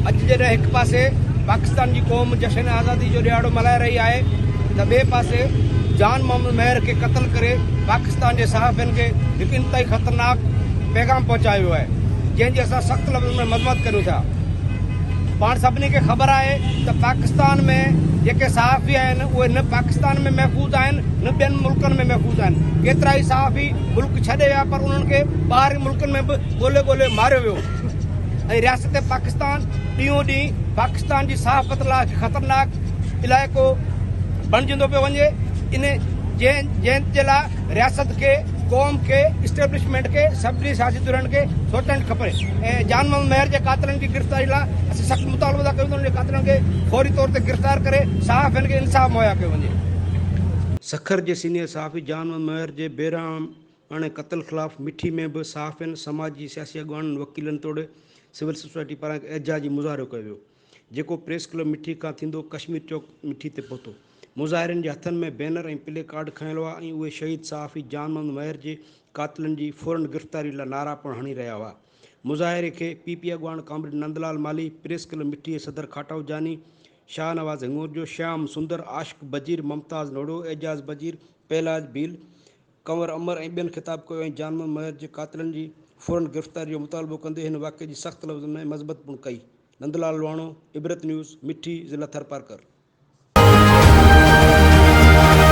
اڄ جڏهن هڪ پاسي پاڪستان جي قوم جشن آزادي جو ڏهاڙو ملهائي رهي آهي ته ٻئي پاسي جان محمد مهر کي قتل ڪري پاڪستان جي صحافين کي هڪ انتهائي خطرناڪ پيغام پهچايو ويو آهي جنهن جي اسان سخت لفظن ۾ مذمت ڪريون ٿا پاڻ سڀني کي خبر آهي ته پاڪستان ۾ جيڪي صحافي آهن اهي نه پاڪستان ۾ محفوظ آهن نه ٻين ملڪن ۾ محفوظ آهن ڪيترا ئي صحافي ملڪ ڇڏي ويا پر انهن کي ٻاهرين ملڪ ملڪن ۾ به ڳولي ڳولي ماريو ويو ۽ رياست پاڪستان ڏينهون ڏينهن پاڪستان جي صحافت لاء خطرناڪ علائقو بڻجندو پيو وڃي ان جنهن جنهن جي لاء رياست کي قوم کي اسٽيبلشمينٽ کي سڀني سياسي ڌرين کي سوچڻ کپي ۽ جان محمد مهر جي قاتلن جي گرفتاري لاء اسين سخت مطالبو ٿا ڪريون ته ان جي قاتلن کي فوري طور تي گرفتار ڪري صحافين کي انصاف مهيا ڪيو وڃي سکر جي سينيئر صحافي جان محمد مهر جي بيرحم هاڻي قتل خلاف مٺي ۾ به صحافين، سماجي سياسي اڳواڻن، وڪيلن توڙي سول سوسائٽي پاران هڪ احتجاجي مظاهرو ڪيو ويو، جيڪو پريس ڪلب مٺي کان ٿيندو ڪشمير چوڪ مٺي تي پهتو. مظاهرين جي هٿن ۾ بينر ۽ پلي ڪارڊ کنيل هئا ۽ اهي شهيد صحافي جان محمد مهر جي قاتلن جي فورن گرفتاري لا نعرا پڻ هڻي رهيا هئا. مظاهري کي پي پي اڳواڻ comrade Nandlal Malhi, press club Mithi جي صدر کاٽائو جاني، شاهنواز هڱورجو، شيام سندر، عاشق بجير، ممتاز نوڙو، اعجاز بجير، پهلاج ڀيل، ڪنور امر ۽ ٻين خطاب ڪيو ۽ جان محمد مهر جي قاتلن جي فورن گرفتاري جو مطالبو ڪندي هن واقعي جي سخت لفظن ۾ مذمت پڻ ڪئي. نندلال لواڻو، عبرت نيوز، مٺي، ضلع ٿرپارڪر.